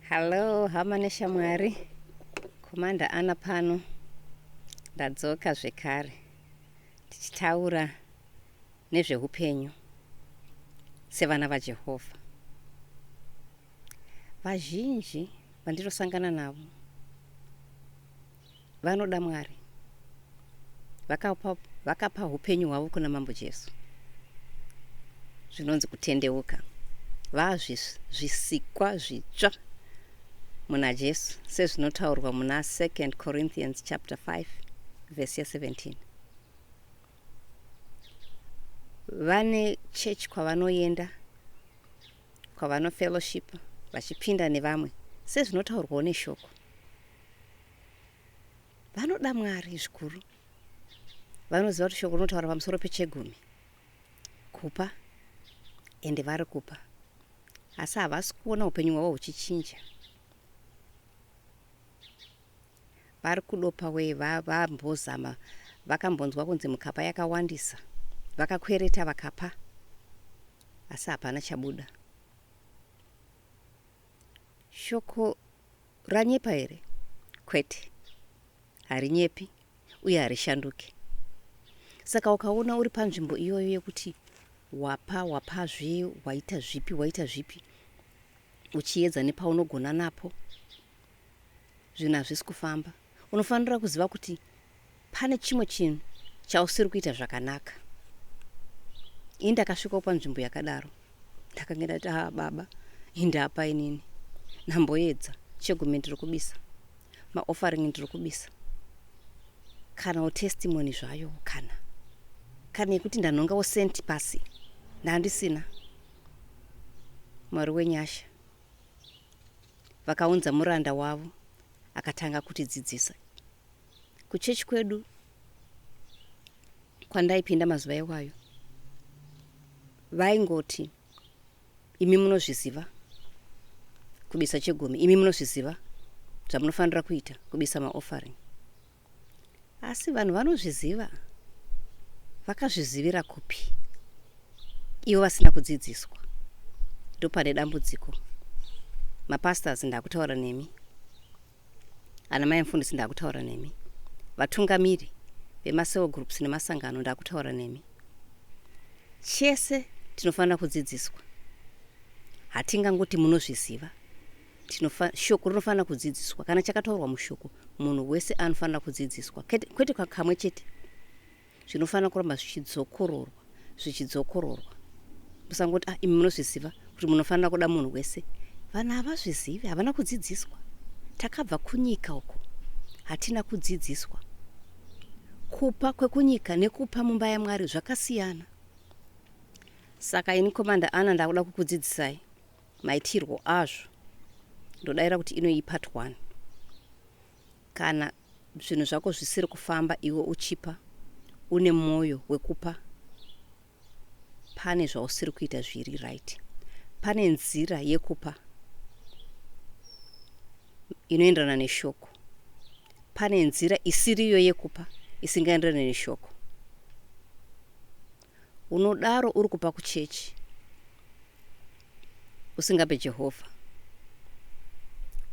Hello, hama neshamwari. Komanda Ana pano. Ndadzoka zvekare. Tichitaura nezvehupenyu sevana vaJehovha. Vazhinji vandirosangana navo Vanoda Mwari. Vakapa, vakapa upenyu hwavo kuna Mambo Jesu. Zvinonzi kutendeuka. Vazvisikwa zvitsva muna Jesu sezvinotaurwa muna 2 Corinthians chapter 5 verse 17. Vane church kwavanoenda kwavanofellowship vachipinda nevamwe sezvinotaurwawo neshoko vanoda mwari zvikuru vanoziva kuti shoko rinotaura pamusoro pechegumi kupa ende vari kupa asi havasi kuona upenyu hwavo huchichinja vari kudopa wee vambozama va, vakambonzwa kunzi mukapa yakawandisa vakakwereta vakapa asi hapana chabuda Shoko ranyepa here? Kwete, harinyepi uye harishanduke. Saka ukaona uri panzvimbo iyoyo yekuti wapa wapazve waita zvipi waita zvipi uchiedza nepaunogona napo zvinhu hazvisi kufamba unofanira kuziva kuti pane chimwe chinhu chausiri kuita zvakanaka ini ndakasvikawo panzvimbo yakadaro ndakange ndati haa baba hindapa inini namboedza chegume ndiri kubisa maoffering ndiri kubisa kanawo testimony zvayo kana kana yekuti ndanhongawo senti pasi ndandisina mwari wenyasha Vakaunza muranda wavo akatanga kutidzidzisa. Kuchechi kwedu kwandaipinda mazuva iwayo vaingoti imi munozviziva kubisa chegumi, imi munozviziva zvamunofanira kuita kubisa maoffering. asi vanhu vanozviziva vakazvizivira kupi ivo vasina kudzidziswa ndopane dambudziko mapastors ndakutaura nemi ana mai mfundisi ndakutaura nemi vatungamiri vemaseo groups nemasangano ndakutaura nemi chese tinofanira kudzidziswa hatingangoti munozviziva shoko rinofanira kudzidziswa kana chakataurwa mushoko munhu wese anofanira kudzidziswa kwete kakamwe chete zvinofanira kuramba zvichidzokororwa zvichidzokororwa musangoti ah imi munozviziva kuti munofanira kuda munhu wese vanhu havazvizivi havana kudzidziswa takabva kunyika uko hatina kudzidziswa kupa kwekunyika nekupa mumba yamwari zvakasiyana saka ini komanda ana ndakuda kukudzidzisai maitirwo azvo ndodaira kuti inoyi part one kana zvinhu zvako zvisiri kufamba iwe uchipa une mwoyo wekupa pane zvausiri kuita zviri right pane nzira yekupa inoenderana neshoko pane nzira isiriyo yekupa isingaenderane neshoko Unodaro uri kupa kuchechi usingape Jehovha.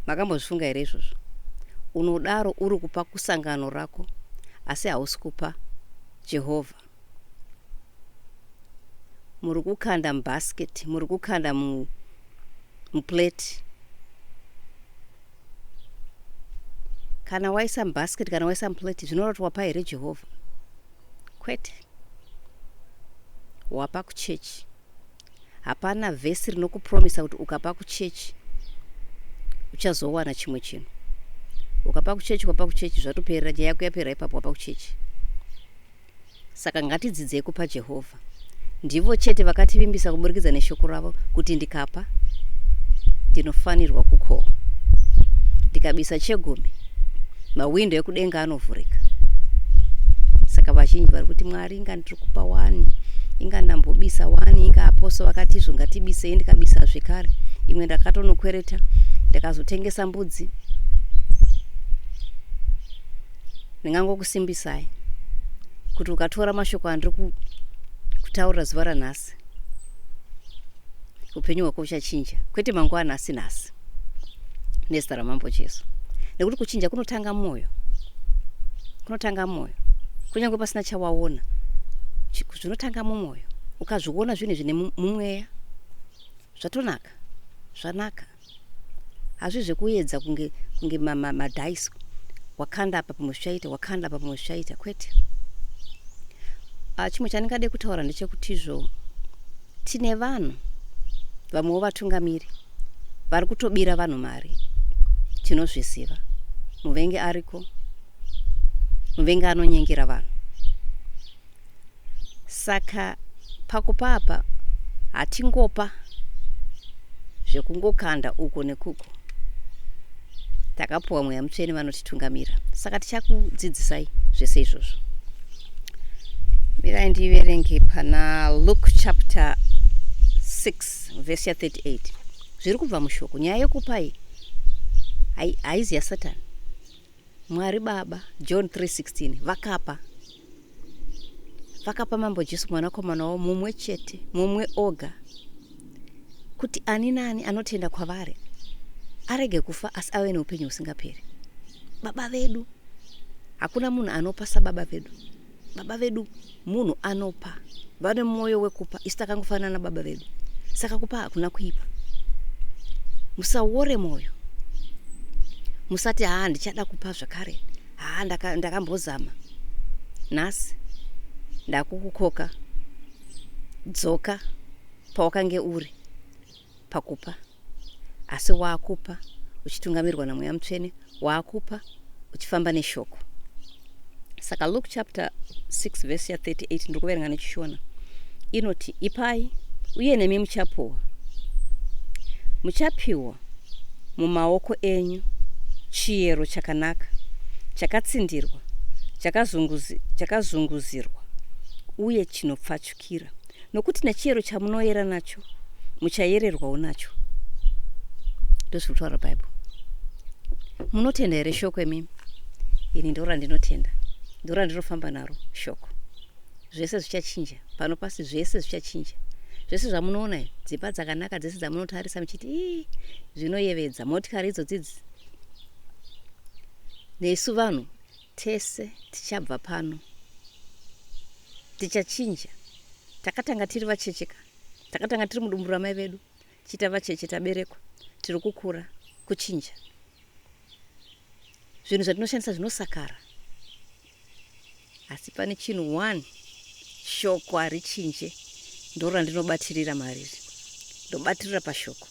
Makambozvifunga here izvozvo? Unodaro uri kupa kusangano rako asi hausi kupa Jehovha. Muri kukanda mubhasiketi, muri kukanda mu, muplate. Kana waisa mubhasiketi, kana waisa muplate, zvinoreva kuti wapa here Jehovha? Kwete. Wapa kuchechi. Hapana vhesi rinokupromisa kuti ukapa kuchechi uchazowana chimwe chinhu. Ukapa kuchechi, wapa kuchechi, zvatoperera nyaya yako yapera ipapo, wapa kuchechi. Saka ngatidzidzei kupa Jehovha. ndivo chete vakativimbisa kuburikidza neshoko ravo kuti ndikapa ndinofanirwa kukohwa ndikabisa chegumi mahwindo ekudenga anovhurika saka vazhinji vari kuti mwari inga ndiri kupa wani inga ndambobisa wani inga aposo vakati izvo ngatibisei ndikabisa zvekare imwe ndakatonokwereta ndakazotengesa mbudzi ndingangokusimbisai kuti ukatora mashoko andiri kutaurira zuva ranhasi upenyu hwako uchachinja kwete mangwana asi nhasi nezita ramambo jesu nekuti kuchinja kunotanga mwoyo kunotanga mwoyo kunyange pasina chawaona zvinotanga mumwoyo ukazviona zvinhu zvine mumweya zvatonaka zvanaka hazvi zvekuedza kunge kunge madhaisi ma, ma wakanda apa pamwe zvichaita wakanda apa pamwe zvichaita kwete ah, chimwe chandingade kutaura ndechekutizvo tine vanhu vamwewo vatungamiri vari kutobira vanhu mari tinozviziva muvengi ariko muvengi anonyengera vanhu saka pakupa apa hatingopa zvekungokanda uko nekuko takapuwa mweya mutsvene vanotitungamira saka tichakudzidzisai zvese izvozvo mirai ndiverenge pana luke chapter 6 vhesi ya 38 zviri kubva mushoko nyaya yekupai haizi yasatani mwari baba john 316 vakapa vakapa mambo jesu mwanakomana wavo mumwe chete mumwe oga kuti ani naani anotenda kwavari arege kufa asi ave neupenyu husingaperi baba vedu hakuna munhu anopa sababa vedu baba vedu munhu anopa vane mwoyo wekupa isu takangofanana nababa vedu saka kupa hakuna kuipa musawore mwoyo musati haa ndichada kupa zvakare haa ndaka- ndakambozama nhasi ndakukukoka dzoka pawakange uri pakupa asi waakupa uchitungamirwa namweya mutsvene waakupa uchifamba neshoko saka luke chapter 6 verse ya 38 ndiri kuverenga nechishona inoti ipai uye nemi muchapuwa muchapiwa mumaoko enyu chiyero chakanaka, chakatsindirwa, chakazunguzirwa, uye chinopfachukira, nokuti nechiyero chamunoyera nacho muchayererwawo nacho. Ndozviri kutaura Bible. Munotenda here shoko imimi? Ini ndorandinotenda, ndorandinofamba naro shoko. Zvese zvichachinja. Pano pasi zvese zvichachinja. Zvese zvamunoona izvi, dzimba dzakanaka dzese dzamunotarisa muchiti ii zvinoyevedza, motikari idzodzidzi. Nesu vanhu tese tichabva pano. Tichachinja. Takatanga tiri vachecheka. Takatanga tiri mudumbu ramai vedu. Chita vacheche taberekwa. Tiri kukura. Kuchinja. Zvinhu zvatinoshandisa zvinosakara. Asi pane chinhu one shoko harichinje ndoro randinobatirira mariri ndobatirira pashoko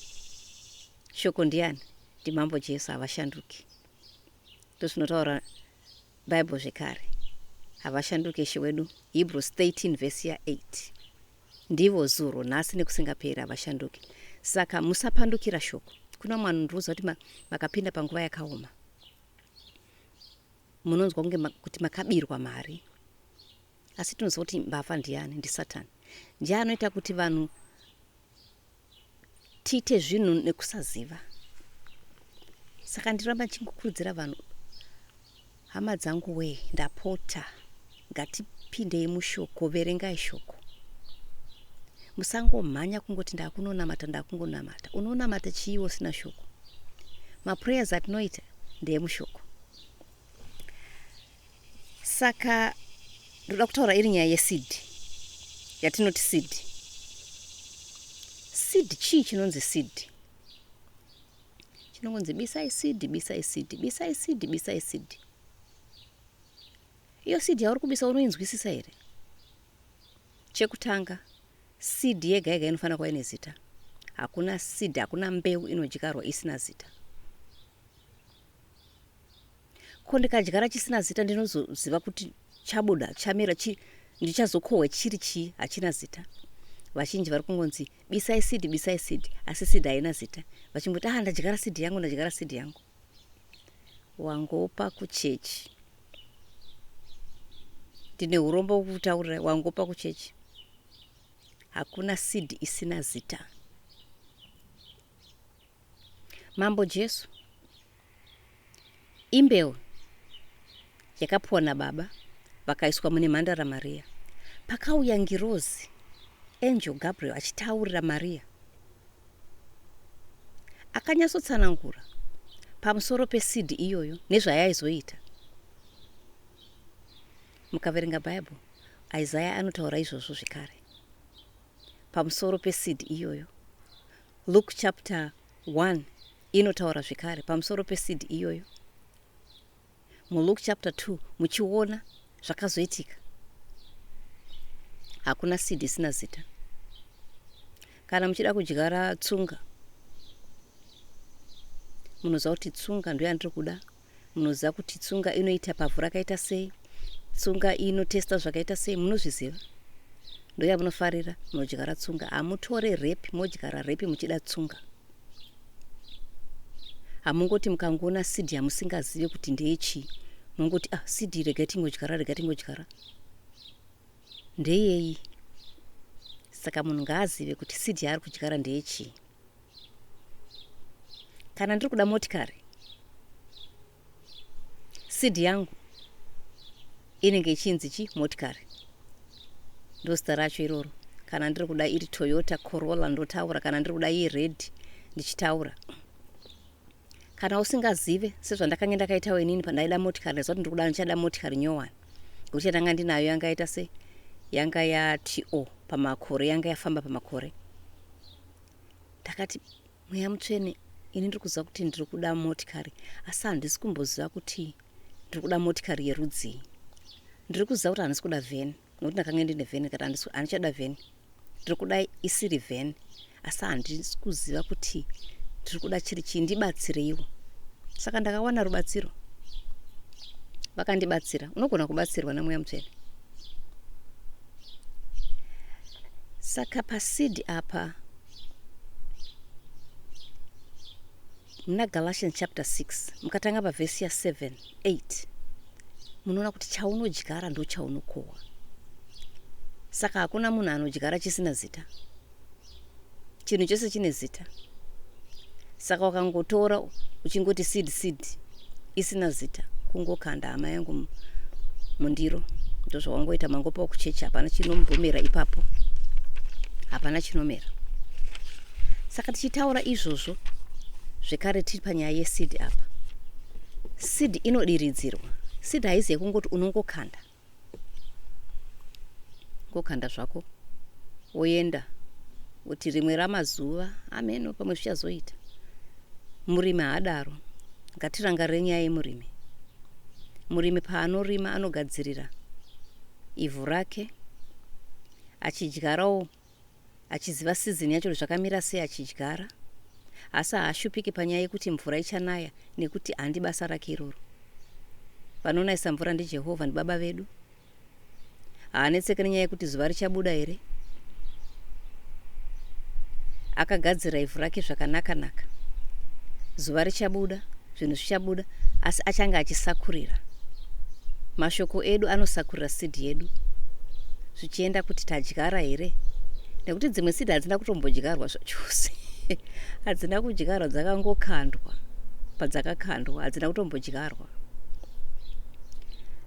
shoko ndiani ndimambo jesu havashanduki ndozvinotaura bible zvekare havashanduki ishe wedu hebrews 13 vhesi ya 8 ndivo zuro nhasi nekusingaperi havashanduki saka musapandukira shoko kuna mwanhu ndiruza kuti makapinda panguva yakaoma munonzwa kunge ma, kuti makabirwa mari asi tinoziva kuti mbavha ndiani ndisatan ndiye anoita kuti vanhu tiite zvinhu nekusaziva saka ndiramba ndichingokurudzira vanhu hama dzangu wee ndapota Ngatipindei mushoko, verengai shoko. Musangomhanya kungoti ndakunonamata ndakungonamata. Unonamata chii usina shoko? Maprayers atinoita ndeemushoko. Saka ndoda kutaura iri nyaya yeseed yatinoti seed. Seed chii chinonzi seed? Chinongonzi bisai seed, bisai seed, bisai seed, bisai seed. Iyo seed yauri kubisa unoinzwisisa here? Chekutanga, seed yega yega inofanira kuva ine zita. Hakuna seed, hakuna mbeu inodyarwa isina zita. Ko ndikadyara chisina zita ndinozoziva kuti chabuda, chamera, chi, ndichazokohwa chiri chii? Hachina zita. Vazhinji vari kungonzi bisai seed, bisai seed, asi seed haina zita. Vachingoti ah, ndadyara seed yangu, ndadyara seed yangu. wangopa kuchechi ndine urombo wokutaurira wangopa kuchechi hakuna seed isina zita mambo jesu imbeu Yakapiwa nababa, vakaiswa mune mhandara Maria. Pakauya ngirozi, angel Gabriel, achitaurira Maria. Akanyatsotsanangura pamusoro peseed iyoyo nezvayaizoita. Mukaverenga Bible, Isaiah anotaura izvozvo zvekare. Pamusoro peseed iyoyo. Luke chapter 1 inotaura zvekare pamusoro peseed iyoyo. muLuke chapter 2 muchiona zvakazoitika hakuna seed isina zita kana muchida kudyara tsunga munoziva kuti tsunga ndo yandiri kuda munoziva kuti tsunga inoita pavhu rakaita sei tsunga inotesta zvakaita sei munozviziva ndoyamunofarira munodyara tsunga hamutore repi modyara repi muchida tsunga hamungoti mukangoona seed yamusingazive kuti ndeyechii mongoti ah seed rega tingodyara rega tingodyara ndeyei saka munhu ngaazive kuti seed yaari kudyara ndeyechii kana ndiri kuda motikari Seed yangu inenge ichinzi chi motikari ndozita racho iroro kana ndiri kuda iri toyota corolla ndotaura kana ndiri kuda iyi red ndichitaura kana usingazive sezvandakange ndakaitawo inini pandaida motikari ndaiziva kuti ndiri kuda ndichada motikari nyowani ngokuti yatanga ndinayo yanga yaita se yanga yato pamakore yanga yafamba pamakore ndakati mweya mutsvene ini ndiri kuziva kuti ndiri kuda motikari asi handisi kumboziva kuti ndiri kuda motikari yerudzii ndiri kuziva kuti handisi kuda vheni nokuti ndakange ndine vheni kati handichada vheni ndiri kuda isiri vheni asi handisi kuziva kuti ndiri kuda chiri chii ndibatsireiwo saka ndakawana rubatsiro vakandibatsira unogona kubatsirwa nemweya mutsvene saka pasidi apa muna galatians chapter 6 mukatanga pavhesi ya7 8 munoona kuti chaunodyara ndochaunokohwa saka hakuna munhu anodyara chisina zita chinhu chose chine zita saka wakangotora uchingoti seed seed isina zita kungokanda hama yangu mundiro ndozvawangoita mangopa kuchechi hapana chinomumera ipapo hapana chinomera saka tichitaura izvozvo zvekare tiri panyaya yesid apa sid inodiridzirwa sid haizi yekungoti unongokanda ngokanda zvako woenda kuti rimwe ramazuva ameno pamwe zvichazoita murimi haadaro ngatirangarire nyaya yemurimi murimi paanorima anogadzirira ivhu rake achidyarawo achiziva sizini yacho zvakamira sei achidyara asi haashupiki panyaya yekuti mvura ichanaya nekuti handi basa rake iroro vanonayisa mvura ndijehovha ndibaba vedu haanetseke nenyaya yekuti zuva richabuda here akagadzira ivhu rake zvakanaka naka zuva richabuda zvinhu zvichabuda asi achange achisakurira mashoko edu anosakurira seed yedu zvichienda kuti tadyara here nekuti dzimwe seed hadzina kutombodyarwa zvachose hadzina kudyarwa dzakangokandwa padzakakandwa hadzina kutombodyarwa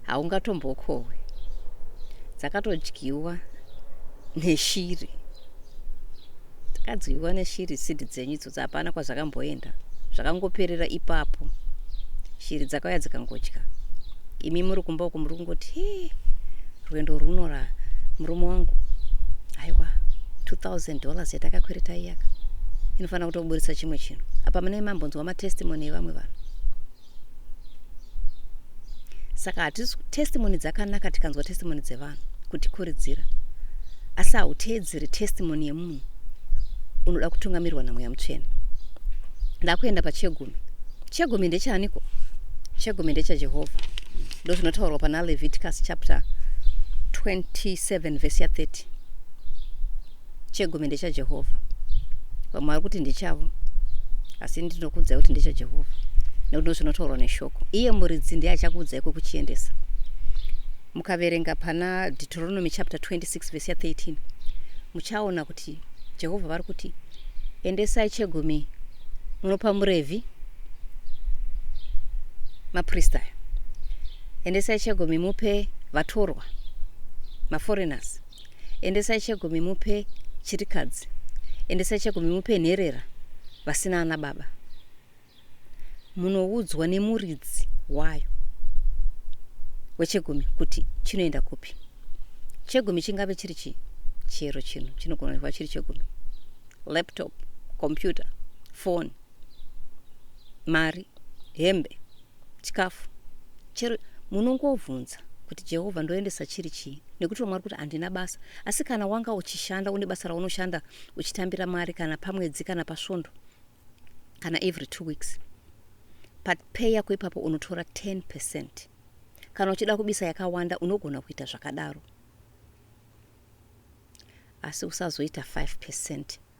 haungatombokohwe dzakatodyiwa neshiri dzakadyiwa neshiri sidi dzenyu zvakangorodza hapana kwazvakamboenda zvakangoperera ipapo shiri dzakauya dzikangodya imi muri kumba uko muri kungoti he rwendo rwunora murume wangu haiwa 2000 dollars yatakakwereta iyaka inofanira kutoburitsa chimwe chinhu apa mune mambonzwa matestimony evamwe vanhu saka hatisi testimony dzakanaka tikanzwa testimony dzevanhu kutikuridzira asi hauteedzeri testimony yemunhu unoda kutungamirwa namweya mutsvene ndakuenda pachegumi chegumi ndechaaniko chegumi ndechajehovha ndo zvinotaurwa pana leviticus chapter 27 vhesi ya 30 chegumi ndechajehovha vamwe vari kuti ndichavo asi ndinokuudzai kuti ndechajehovha nekuti ndozvinotaurwa neshoko iye muridzi ndiye achakuudzai kwekuchiendesa mukaverenga pana deuteronomy chapter 26 vese ya 13 muchaona kuti jehovha vari kuti endesai chegumi munopa murevhi maprista aya endesai chegumi mupe vatorwa maforeigners Endesai chegumi mupe chirikadzi. Endesai chegumi mupe nherera vasina ana baba. Munoudzwa nemuridzi wayo wechegumi kuti chinoenda kupi. Chegumi chingave chiri chii? Chero chinhu chinogona kuva chiri chegumi. Laptop, computer, phone, mari, hembe, chikafu chero munongovhunza kuti jehovha ndoendesa chiri chii nekuti vamwe vari kuti handina basa asi kana wanga uchishanda une basa raunoshanda uchitambira mari kana pamwedzi kana pasvondo kana every two weeks papay yako ipapo unotora 10 percent kana uchida kubisa yakawanda unogona kuita zvakadaro asi usazoita 5 percent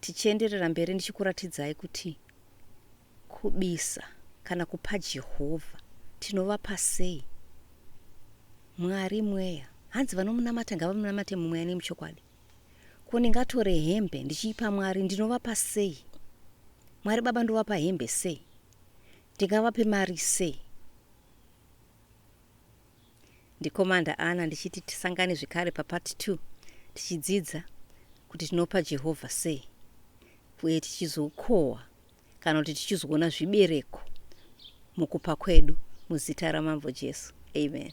tichienderera mberi ndichikuratidzai kuti kubisa kana kupa jehovha tinovapa sei mwari mweya hanzi vanomunamata ngavamunamate mumweya nemuchokwadi ko ndingatore hembe ndichiipa mwari ndinovapa sei mwari baba ndovapa hembe sei ndingavape mari sei Ndi Commander Anna ndichiti tisangane zvekare pa part two tichidzidza kuti tinopa Jehovha sei uye tichizokohwa kana kuti tichizoona zvibereko mukupa kwedu muzita raMambo Jesu. Amen.